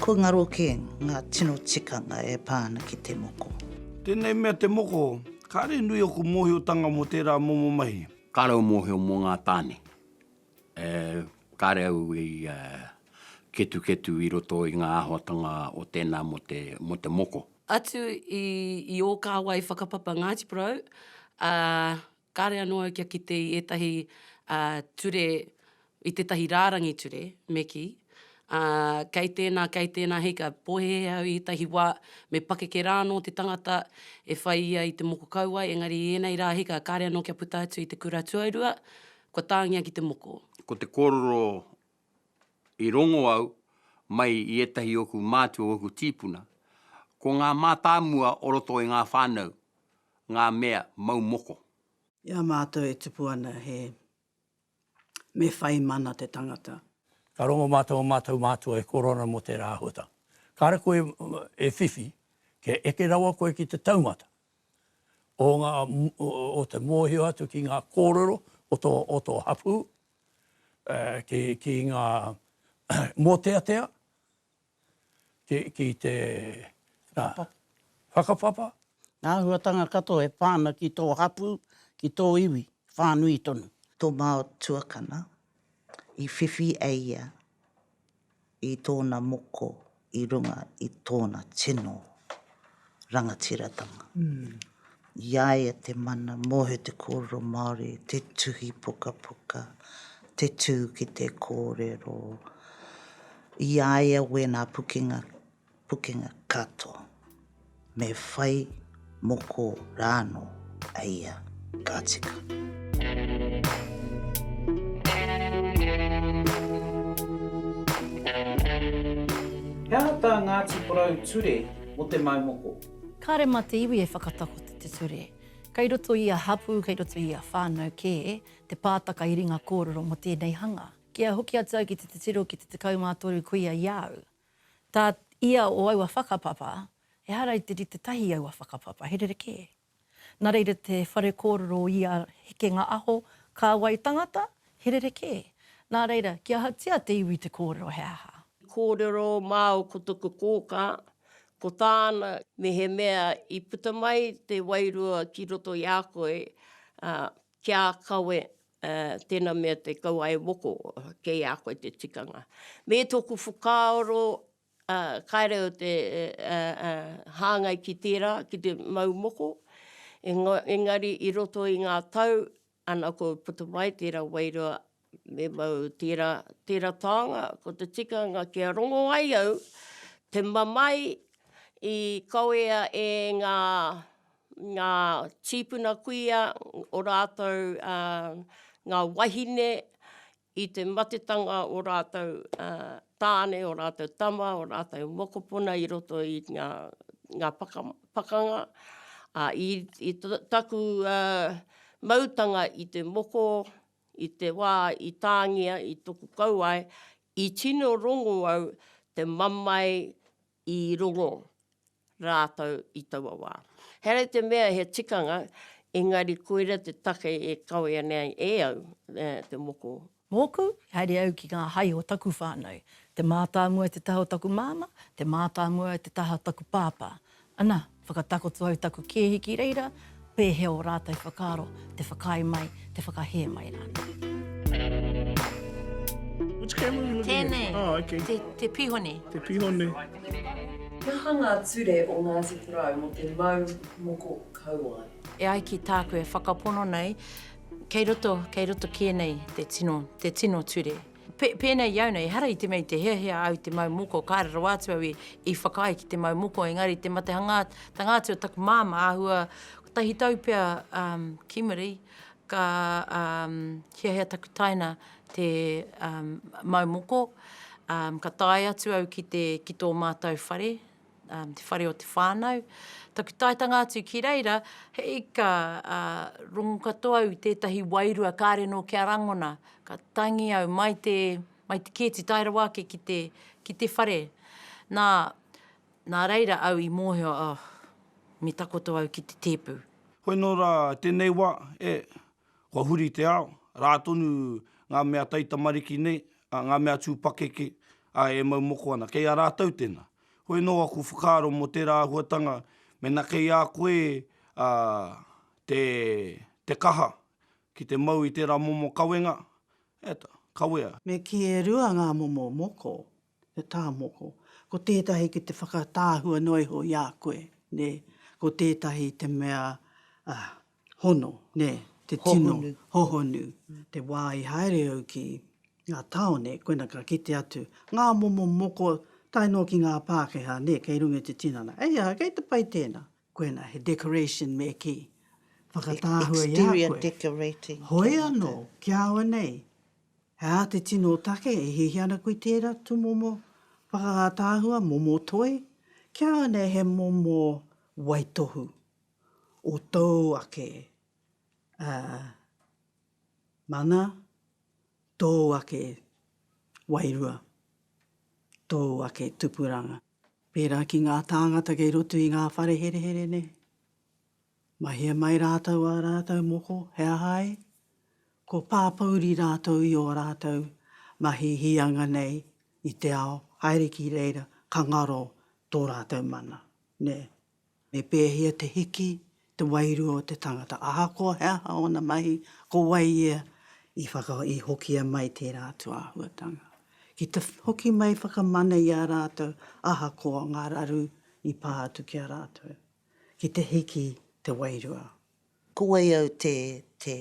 Kua ngaro kē ngā tino tikanga e pā ana ki te moko. Tēnei mea te moko, kāre nui ōku mōhiotanga mō tērā momo mahi. Kāre au mōhio mō ngā tāne. Kāre au i ketuketu i roto i ngā āhuatanga o tēnā mō te moko. Atu i ō kāwai whakapapa Ngāti Porou, ā, Kāre anō au kia kite i ētahi ture, i tētahi rārangi ture, me kī, ā, kei tēnā, kei tēnā, hei ka pōhēhē au i ētahi wā, me pakeke rā anō te tangata e whai ia i te moko kauae, engari i ēnei rā hika, kāre anō kia puta atu i te kura tuarua, kua tāngia ki te moko. Ko te kōrero I rongo au mai i ētahi o oku mātua o oku tīpuna, ko ngā mātāmua o roto i ngā whānau, ngā mea mau moko. I a mātou e tupu ana he me whai mana te tangata. Ka rongo mā tō mātou mātua e koro ana mō tērā āhuatanga. Kāre koe e whiwhi, kia eke rawa koe ki te taumata o te mōhio atu ki ngā kōrero o tō hapū. ki ngā mōteatea, ki te whakapapa. Ngā āhuatanga katoa e pā ana ki tō hapū, ki tō iwi, whānui tonu. Tō mātua kana, i whiwhi e ia i tōna moko i runga i tōna tino rangatiratanga. I a ia te mana mōhio te kōrero Māori, te tuhi pukapuka, te tū ki te kōrero. I a ia wēnā pukenga pukenga katoa, me whai moko rānō a ia ka tika. He aha tā Ngāti Porou ture mō te mau moko? Kāre mā te iwi e whakatakoto te ture. Kei roto i ia hapū, kei roto i ia whānau kē te pātaka i ringa kōrero mō tēnei hanga. Kia hoki atu au ki te titiro ki te 13 kuia i a au, Tā ia o aua whakapapa, ehara i te rite tahi i aua whakapapa, he rerekē. Nā reira te whare kōrero o ia hekenga aho, kāwai tangata, he rerekē. Nā reira, kia ahatia te iwi te kōrero, he aha? Kōrero māu ko taku kōkā, ko tāna, mehemea i puta mai te wairua ki roto i a koe, ā, kia kawe Ā, tēnā mea te kaua e moko, kei a koe te tikanga. Me tōku whakaaro, ā, kāreau te hāngai ki tērā, ki te mau moko, engari i roto i ngā tau, ana koe i puta mai tērā wairua, me mau tērā, tērā taonga, ko te tikanga kia rongo ai au te mamae i kawea e ngā ngā tīpuna kuia, o rātou ngā wahine, i te matetanga o rātou tāne, o rātou tama, o rātou mokopuna i roto i ngā pakanga. I taku mautanga i te moko, i te wā i tāngia, i toku kauae, i tino rongo au te mamae i rongo rātou i taua wā. Herea te mea he tikanga, engari koira te take e kawea nei e au te moko. Mōku, haere au ki ngā hae o taku whānau. Te mātāmua te taha o taku māmā, te mātāmua te taha o taku pāpā. Ana, Whakatakoto au taku kēhi ki reira, pēhea ō rātou whakaaro, te whakaae mai, te whakahē mai rānei. Which camera are you looking at? Tēnei. Oh, okay. Te, te pihone. Te pihone. He aha ngā ture o Ngāti Porou mō te mau moko kauae? E ai ki tāku e whakapono nei, kei roto, kei roto kē nei te tino, te tino ture. Pēnei i au nei, ehara i te mea i te hiahia au i te mau moko, kāre rawa atu au i whakaae ki te mau moko, engari te matehangātanga atu o taku māmā āhua kotahi tau pea ki muri, ka hiahia taku taina te mau moko, ka tae atu au ki tō mātou whare, te whare o te whānau. Taku taetanga atu ki reira, he ika rongo katoa au i tētahi wairua kāre nō kia rangona. Ka tangi au mai te, mai te kēti tae rawa ake ki te, ki te whare. Nā, nā reira au i mōhio, oh, me takoto au ki te tēpu. Hoi nō rā, tēnei wā, e, kua huri te ao, rā tonu ngā mea taitamariki nei, ā, ngā mea tū pakeke, ā, e mau moko ana. Kei a rātou tēnā. Hoi anō aku whakaaro mō tērā āhuatanga, mēnā kei a koe, ā, te, te kaha ki te mau i tērā momo kawenga, ē tā, kawea. Me kī e rua ngā momo moko, He tāmoko. Ko tētahi ki te whakatāhua noa iho i a koe, nē. Ko tētahi te mea hono, nē, te tino. Hohonu. Hohonu. Te wā i haere au ki ngā tāone, koina ka kite atu ngā momo moko tae noa ki ngā Pākehā, nē, kei runga i te tinana. Hei aha, kei te pai tēnā. Koinā, he decoration me kī. Whakatāhua i a koe. Hoi anō, ki a au nei, he aha te tino take e hihi ana koe i tērā tūmomo whakatāhua, momo toi? Ki a au nei, he momo waitohu o tōu ake mana, tōu ake wairua, tōu ake tupuranga. Pērā ki ngā tāngata kei roto i ngā whare herehere nei. Mahia mai rātou ā rātou moko, he aha ai? Kua pāpouri rātou i ō rātou mahi hīanga nei i te ao, haere ki reira ka ngaro tō rātou mana, nē. Me pēhea te hiki te wairua o te tangata, ahakoa he aha ōna mahi, ko wai ia i whaka, i hokia mai tērā atu āhuatanga. Ki te hoki mai whakamana i a rātou ahakoa ngā raru i pā atu ki a rātou, ki te hiki te wairua. Ko wai au te, te,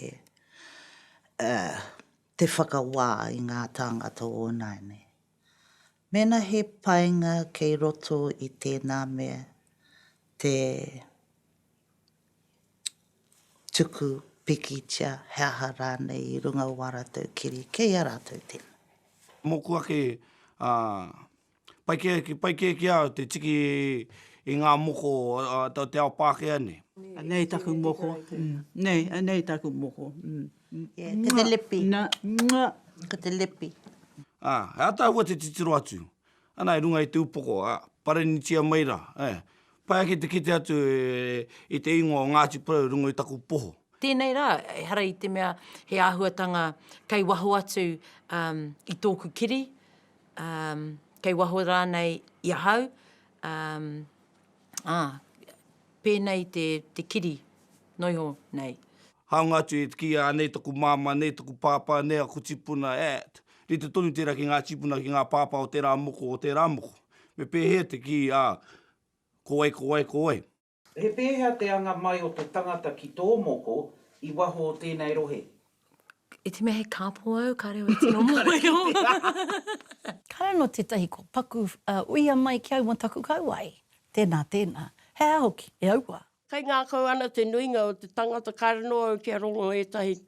uh, te whakawā i ngā tāngata o nāianei? Mēnā he painga kei roto i tēnā mea te tuku pikitia he aha rānei i runga o ā rātou kiri, kei a rātou tēnā. Mōku ake, ā, pai kē, pai kē ki a au te tiki i ngā moko o te ao Pākehā nei. Anei taku moko, nei, anei taku moko. Ko te lepi. Ko te lepi. Ā, he ataahua te titiro atu. Ana i runga i te upoko, ā, parenitia mai rā, ā. Pai ake te kite atu i te ingoa o Ngāti Porou i runga i taku poho. Tēnei rā, ehara i te mea he āhuatanga kei waho atu i tōku kiri, kei waho rānei i ahau, ā. Ā, pēnei te, te kiri, noiho nei. Hāunga atu e kī, Anei taku māmā, anei taku pāpā, anei aku tipuna, at. Rite tonu tērā ki ngā tīpuna, ki ngā pāpā o tērā moko, o tērā moko. Me pēhea te kī, ā, ko wai, ko wai, ko wai? He pēhea te anga mai o te tangata ki tō moko i waho o tēnei rohe? I te mea he kāpō au, kāre au e tino mōhio. Kāre anō tētahi kua paku, ā, uia mai ki au mō taku kauae. Tēnā, tēnā. He aha hoki, e auā? Kaingākau ana te nuinga o te tangata, kāre anō au kia rongo ētahi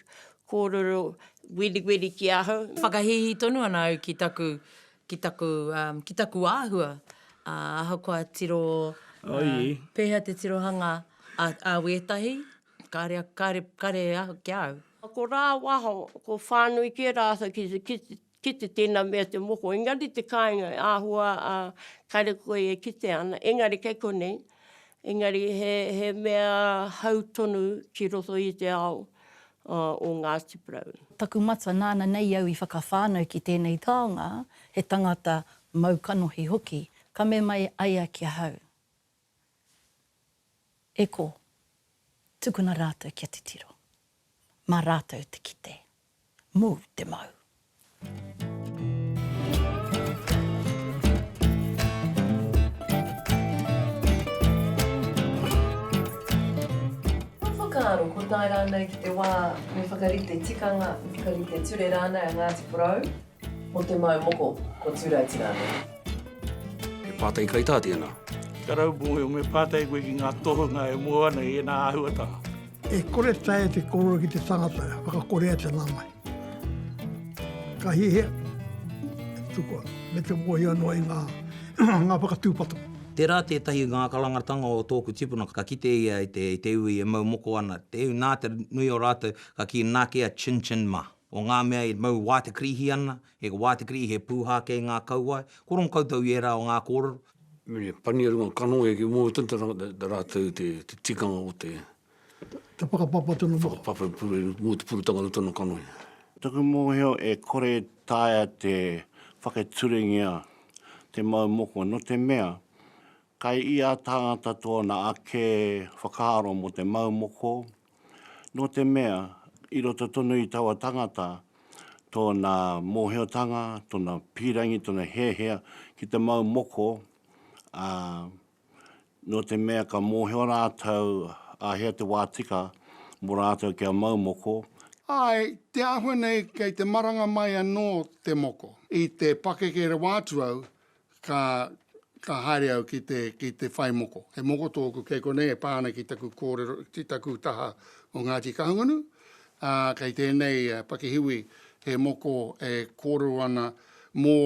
kōrero weriweri ki ahau. Whakahīhī tonu ana au ki taku, ki taku, ā, ki taku āhua, ā, ahakoa tiro, ā, pēhea te tirohanga a, a wētahi, Kare, kare, kare aha ki a au. Ko rā waho, ko whānui kē rātou ki te kite, kite tēnā mea te moko. Engari te kāinga e āhua a kare koe e kite ana, engari kei konei, engari he, he mea hau tonu ki roto i te ao o Ngāti Porou. Taku mata nāna nei au i whakawhānau ki tēnei taonga, he tangata mau kanohi hoki, ka mema e ai a ki ahau. E ko. Tukuna rātou kia titiro. Mā rātou te kite. Mū te mau. Kua whakaaro ko tae rānei ki te wā me whakarite tikanga, me whakarite ture rānei a Ngāti Porou? Mo te mau moko ko Turaiti rānei. He pātai kaitā tēnā. Karau mōhio, me pātai koe ki ngā tohunga e mō ana i ēnā āhuatanga. E kore taea te kōrero ki te tangata, whakakorea te nanae. Ka hiahia te tukua me te mōhio noa i ngā whakatūpato. Tērā tētahi ngākarangatanga o tōku tipuna, ka kite ia i te iwi e mau moko ana, te iwi nā te nui o rātou ka kī nā kē a Chin Chin mah. o ngā mea e mau wātekrihi ana, he wātekrihi, he pūhā kei ngā kauae, ko rongo koutou i ērā o ngā kōrero. Me pania runga kanohi ake mō te tangata rātou te tikanga o te. Te whakapapa tonu mō. Whakapapa mō te purutanga o tōna kanohi. Taku mōhio e kore e taea te whakaturengia te mau moko nō te mea, kai ia tāngata tōna ake whakaaro mō te mau moko, Nō te mea, i roto tonu i taua tangata, tōna mōhiotanga, tōna pīrangi, tōna hiahia ki te mau moko, ā, nō te mea ka mōhio rātou āhea te wā tika mō rātou kia mau moko, Āe, te āhua nei kei te maranga mai anō te moko. I te pakeke rawa atu au, ka, ka haere au ki te, ki te whai moko. He moko tōku kei konei e pā ana ki taku kōrero, ki taku taha o Ngāti Kahungunu, ā, kei tēnei pakihiwi he moko e kōrero ana mō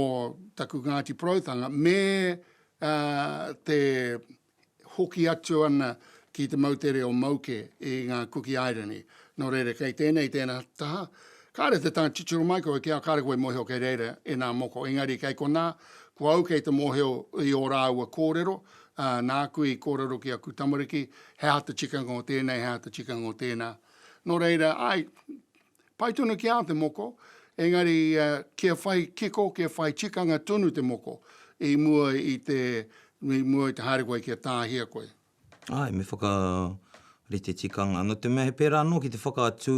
taku Ngāti Poroutanga me, ā, te, hoki atu ana ki te moutere o Mauke i ngā Kuki Airani. Nō reira, kei tēnei tēnā taha, kāre te tanga titiro mai koe ki a kāre koe mōhio kei reira e nā moko, engari kei konā, ko au kei te mōhio i ō rāua kōrero, ā, nāku i kōrero ki aku tamariki, he aha te tikanga o tēnei, he aha te tikanga o tēnā. Nō reira, āe, Pai tonu ki a te moko, engari kia whai kiko, kia whai tikanga tonu te moko i mua i te, i mua i te haere koe kia tāhia koe. Ae, me whakarite tikanga. No te mea he pērā anō ki te whakaatu,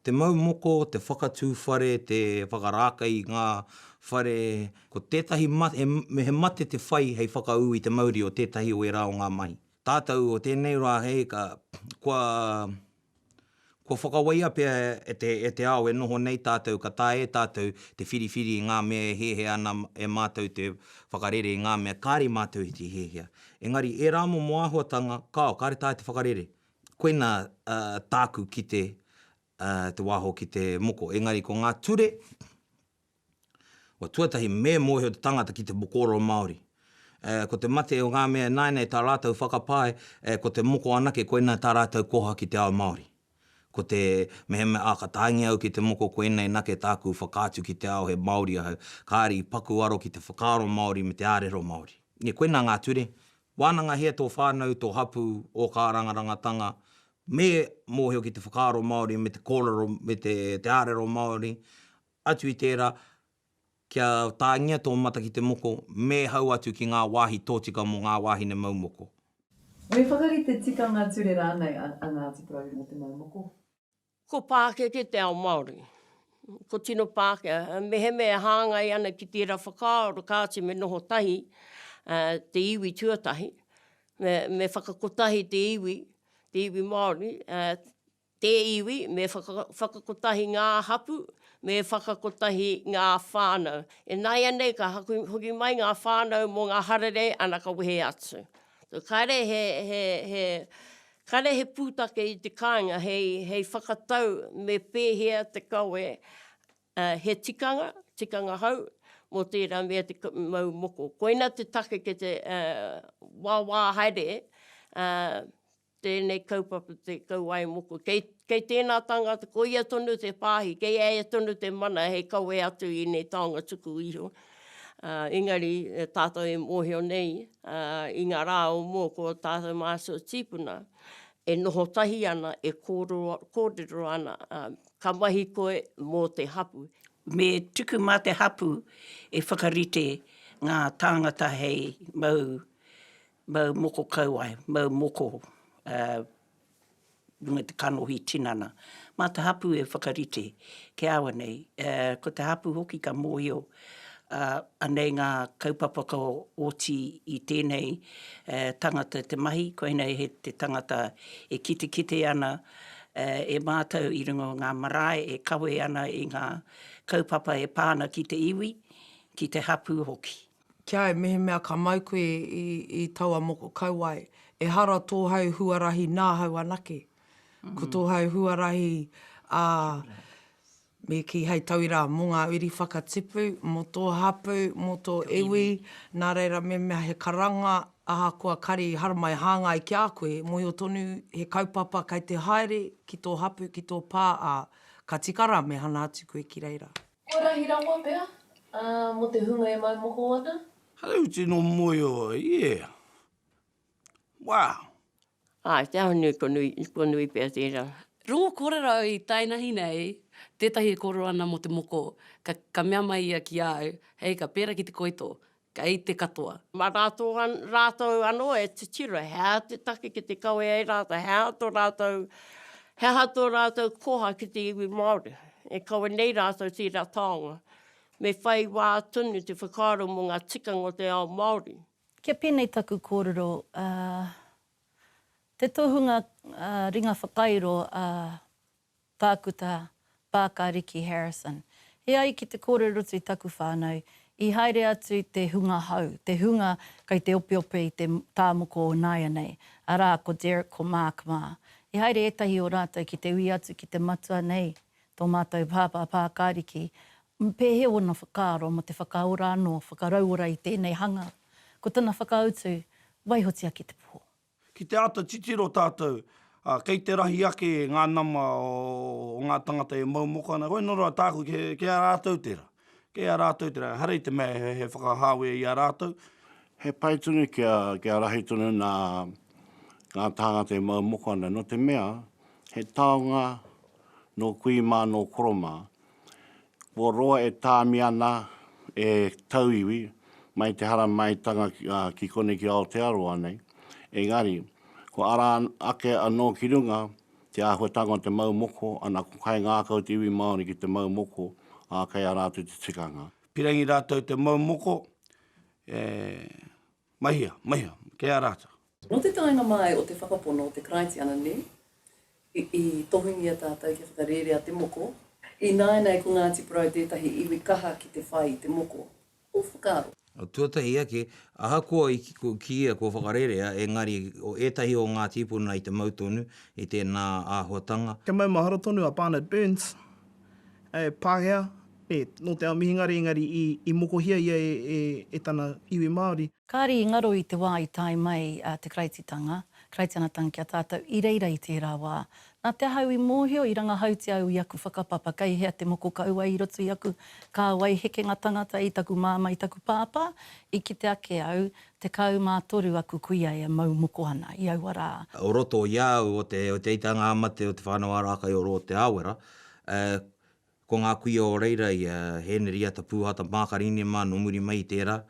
te mau moko, te whakatū whare, te whakarākei i ngā whare, ko tētahi mate, he mate te whai hei whakaū i te mauri o tētahi o ērā o ngā mahi. Tātou o tēnei rā hei ka, kua. Kua whakawaia pea e te ao e noho nei tātou ka taea e tātou te whiriwhiri i ngā mea e hiahia ana e mātou te whakarere i ngā mea kāre i mātou i te hiahia. Engari, ērā momo āhuatanga, kāo, kāre taea te whakarere. Koinā tāku kite te wāho ki te moko. Engari ko ngā ture, Kua tuatahi, me mōhio te tangata ki te mokoro Māori. Ko te mate o ngā mea ināianei tā rātou whakapae, ko te moko anake koinā tā rātou koha ki te ao Māori. Ko te mehemea, ā, ka tāngia au ki te moko koinei nake tāku whakaatu ki te ao he Māori ahau, kāre i paku aro ki te whakaaro Māori me te ārero Māori. Nē, koinā ngā ture, wānangahia tō whānau, tō hapū, ō kārangarangatanga, me mōhio ki te whakaaro Māori me te kōrero me te ārero Māori, Atu i tērā, kia tāngia tō mata ki te moko, mēhau atu ki ngā wāhi tōtika mō ngā wāhine mau moko. Me whakarite tikanga ture rānei a Ngāti Porou mō te mau moko? Ko pākeke te ao Māori. Ko tino Pākehā, mehemea e hāngai ana ki tērā whakaaro kāti me noho tahi te iwi tuatahi, me whakakotahi te iwi, te iwi Māori, te iwi, me whakakotahi ngā hapū, me whakakotahi ngā whānau. E nāianei ka haku hoki mai ngā whānau mō ngā hararei ana ka wehe atu. Kāre he, he, he, kāre he pūtake i te kāinga hei, hei whakatau me pēhea te kawe, he tikanga, tikanga hau, mō tērā mea te mau moko. Koina te take kei te wāwā haere, Tēnei kaupapa te kauae moko. Kei, kei tēnā tāngata, ko ia tonu te pāhi, kei a ia tonu te mana hei kawe atu i ēnei taonga tuku iho. Ā, engari, e tātou e mōhio nei, ā, i ngā rā o mua ko ō tātou mātua tīpuna e noho tahi ana, e kōrero, kōrero ana, ā, ka mahi koe mō te hapū. Me tuku mā te hapū e whakarite ngā tāngata hei mau Mau moko kauae, mau moko runga i te kanohi tinana. Mā te hapū e whakarite kia awa nei. Ko te hapū hoki ka mōhio anei ngā kaupapa ka oti i tēnei tangata te mahi, koinei he te tangata e kitekite ana e mātou i runga o ngā marae e kawe ana i ngā kaupapa e pā ana ki te iwi, ki te hapū hoki. Ki a au, mehemea ka mau koe i, i taua moko kauae, ehara tōhau huarahi nāhau anake. Ko tōhau huarahi, ā, me kī hei tauira mō ngā uri whakatipu, mō tō hapū, mō tō iwi, nā reira mehemea he karanga, ahakoa kari haramai hāngai ki a koe, mōhio tonu he kaupapa kei te haere ki tō hapū, ki tō pā, ā, ka tika rā me hana atu koe ki reira. Ko rahi rawa pea, a, mo te hunga e mau moko ana. Hello tino moe o yeah wow. Ae te ahunui ko nui ko nui pea tera. Rongo korero i tainahi nei tetahi e korero ana mo te moko ka ka mea mai ia ki au hei ka pera ki te koito Kei te katoa. Ma ratou an, ratou ano e titiro, he aha te take ki te kawe ai ratou, he aha to ratou, he aha to ratou koha ki te iwi Maori. E kawe nei ratou tera taonga. Me whai wa tonu te whakaaro mo nga tikanga o te ao Maori. Kia penei taku korero, a, te tohunga, a, ringa whakairo, a, Tākuta, Pāka Riki Harrison. E ai ki te kōrerotu i taku whānau, i haere atu te hunga hau, te hunga kei te opeope i te tāmoko o nāianei, arā, ko Derek, ko Mark mā. I haere ētahi o rātou ki te ui atu ki te matua nei, tō mātou pāpā, Pāka Riki, pēhea ōna whakaaro mō te whakaora anō, whakarauora i tēnei hanga. Ko tana whakautu, waihotia ki te pō. Ki te āta titiro tātou, ā, kei te rahi ake ngā nama o ngā tāngata e mau moko ana, koia nō roa tāku ki a rātou tērā. Kei a rātou tērā, ehara i te mea he whakahāwea i a rātou. He pai tonu kia rahi tonu nā ngā tāngata e mau moko ana, nō te mea, he taonga nō kui mā, nō koro mā, Kua roa e tāmi ana e tauiwi mai te haramaitanga ki konei ki Aotearoa nei, engari, kua ara ake anō ki runga te āhuatanga o te mau moko, ana, kua kaingākau te iwi Māori ki te mau moko, ā, kei a rātou te tikanga. Pirangi rātou te mau moko, e Mahia, mahia, kei a rātou. Nō te taenga māi o te whakapono o te Karaitiana nē, i tohungia tātou kia whakarērea te moko, ināianei ko Ngāti Porou tētahi iwi kaha ki te whai i te moko. Ko whakaaro. Tuatahi ake, ahakoa i kīia kua whakarērea, engari o ētahi o ngā tīpuna i te mau tonu i tēnā āhuatanga. He maumahara tonu a Barnard Burns E Pākehā, e, nō te ao Mihingare engari i mokohia ia e tana iwi Māori. Kāre i ngaro i te wā i tae mai te Karaititanga, Karaitiana Tang ki a tātou i reira i tērā wā. Nā te aha au i mōhio i rangahautia au i aku whakapapa kei hea te moko kau ai i roto i aku kāwai hekenga tangata i taku māmā i taku pāpā, i kite ake au, 13 aku kuia e mau moko ana i aua rā. O roto i a au o te eiteitanga ā-mate o Te Whānau-ā-Rākaiorō o Te Aawera, Ko ngā kuia o reira i a Heneriata Pūhata Mākarine mā nō muri mai i tērā,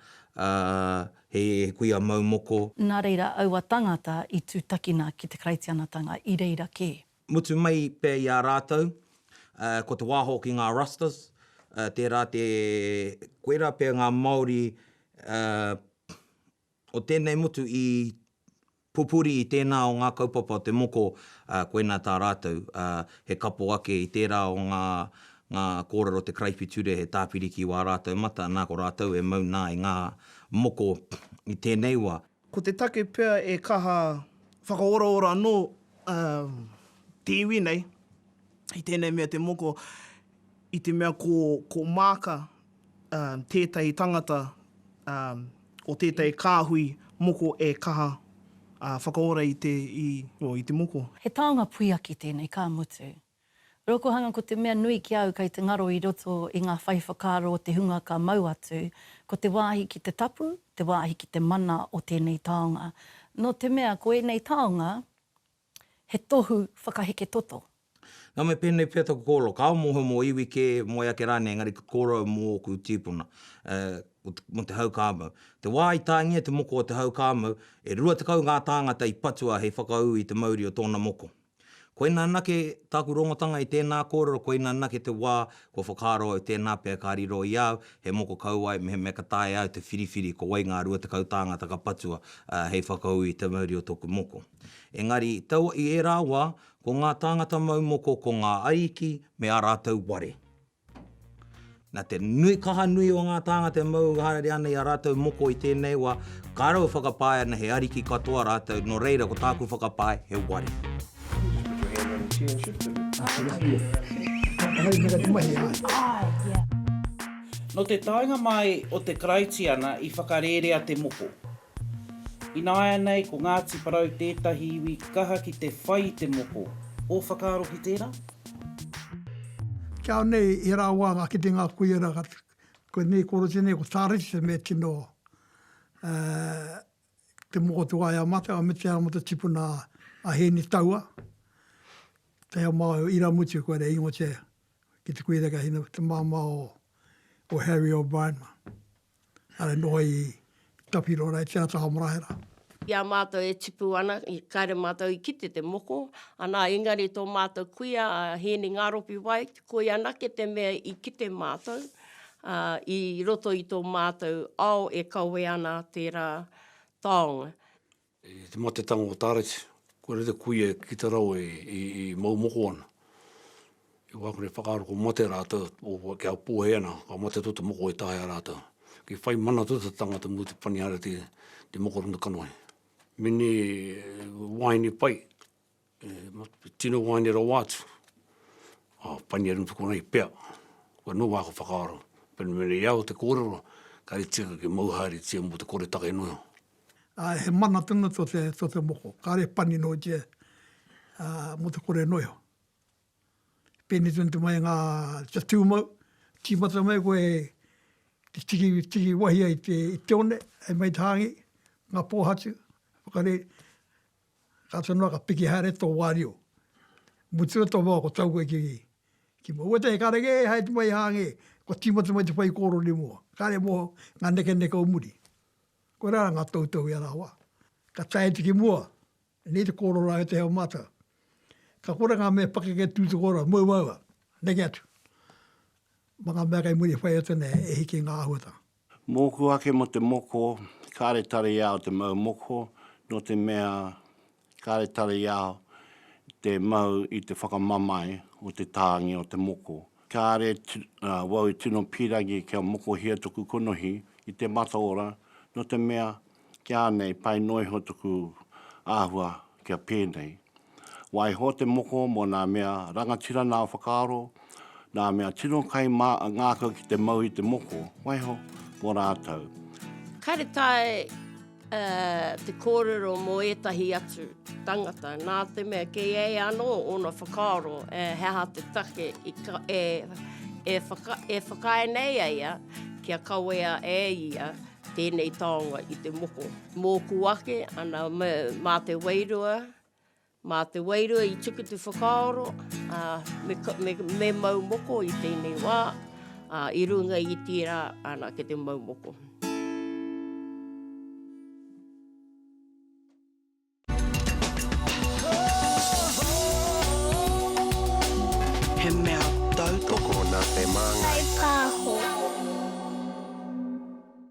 he kuia mau moko. Nā reira aua tāngata i tūtakina ki te Karaitianatanga i reira kē. Mutu mai pea i a rātou, ko te wā hoki ngā Rastas, tērā te koirā pea ngā Māori O tēnei motu i pupuri i tēnā o ngā kaupapa o te moko, ā, koinā tā rātou, ā, he kapo ake i tērā o ngā, ngā kōrero o te karaipiture he tāpiri ki wā rātou mata, nā ko rātou e mau nā i ngā moko i tēnei wā. Ko te take pea e kaha whakaoraora anō, ā, te iwi nei i tēnei mea te moko, I te mea ko, ko Maaka um, tētahi tangata um, o tētahi kāhui moko e kaha uh, whakaora i te, i, oh, i te moko. He taonga puiaki tēnei, ka mutu. Rokohanga ko te mea nui ki a au kei te ngaro i roto i ngā whai whakaaro o te hunga ka mau atu, ko te wāhi ki te tapu, te wāhi ki te mana o tēnei taonga. Nō te mea ko ēnei taonga, He tohu whakaheke toto. Nā me pēnei pea taku kōrero, kāo mōhio mō iwi kē, moe ake rānei, engari ka kōrero mō ōku tīpuna, mō te hau kāmau. Te wā i tāngia te moko o te hau kāmau, e rua tekau ngā tāngata i patua hei whakaū i te mauri o tōna moko. Koinā anake tāku rongotanga i tēnā kōrero, koinā anake te wā kua whakaaro au tēnā pea ka riro i a au, he moko kauae mehemea ka taea au te whiriwhiri ko wai ngā rua tekau tāngata ka patua hei whakaū i te mauri o tōku moko. Engari, taua i ērā wā, ko ngā tāngata mau moko ko ngā ariki me ā rātou ware. Nā te nui kaha nui o ngā tāngata e mau haere ana i ā rātou moko i tēnei wā, ka raua whakapae ana he ariki katoa rātou, nō reira ko tāku whakapae he ware. Nō te taenga mai o te Karaitiana i whakarērea te moko. Ināianei ko Ngāti Porou tētahi iwi kaha ki te whai i te moko. Ō whakaaro ki tērā? Kia nei, he rā wā ngā kitenga a Kuia rā, koinei koro tēnei ko Tāretisa me tino te moko tū ai a mātou, a Mitia rā mō te tipuna a Hēni Taua, te ao māo o Iramutu kua rere ingoatia ki te Kuia rā, te māmā o Harry O'Brien. Ara noa i tapiro ara e te ata hamarahera. I a matou e tipu ana, i kare matou i kite te moko, ana engari to matou kuia a Hieni Ngaropi White, koi anake te mea i kite matou, a, i roto i to matou ao e kawe ana tera taonga. I te matetanga o Tareti, kua rere kuia ki te rau e, i, i mau moko ana. I wā kore whakaaro kua mate rātou, o, kia pōhē ana, ka mate tō te moko e taea rātou. I whai mana tō te tangata mō te Panihareti, te moko o tana kanohi. Meni wāhine pai. Tino waeine rawa atu, a Painia Rutu konei pea, koe no wako whakaaro, pena mene i au te korero, kare tika ke mau haere tia mo te kore take no iho. Ae, he mana tonu to te, to te moko, kare pani no tia, a, mo te kore no iho. Peni tonu te mai nga, kia tu mau, timata mai koe e, te tiki, tiki wahi ai te, i te one, e mei te hangi, nga pohatu, whakare, Ka ata noa, ka piki haere tō wārio. Mutua tō wao, ko taua i kī, ki mua, Ua tē, kāre kē, haere mai i Hāngē, kua tīmata mai te whaikōrero nei mua. Kāre mō ngā nekeneke o muri. Koirā rā ngā toutou i a rāua. Ka tae atu ki mua, nei te kōrero rāua i te ao mātau. Ka kore ngā mea pakeke tū te kōrero, mau māua, neke atu. Ma ngā mea kei muri e whai atu ana e hiki ngā āhuatanga. Mōku ake mō te moko, kāre tari i a au te mau moko, nō te mea, kāre tari i a au te mau i te whakamamae o te tāngi o te moko. Kāre wau i tino pīrangi kia mokohia toku konohi i te mataora, nō te mea, Ki a nei, pai noa iho tuku ahua kia penei. Waiho te moko mo na mea rangatira nao whakaaro, na mea tino kai ma ngakau ki te mau i te moko, waiho mo ratou. Kare tae te korero mo etahi atu tangata, na te mea kei ei ano ona whakaaro he aha te take e whakaae nei eia kia kawea e ia Tēnei taonga i te moko. Mōku ake, ana, mā te wairua, mā te wairua i tuku te whakaaro, ā, me, me, me mau moko i tēnei wā, ā, i runga i tērā, ana, ki te mau moko. He mea tautoko nā te māngai. Kai pāho.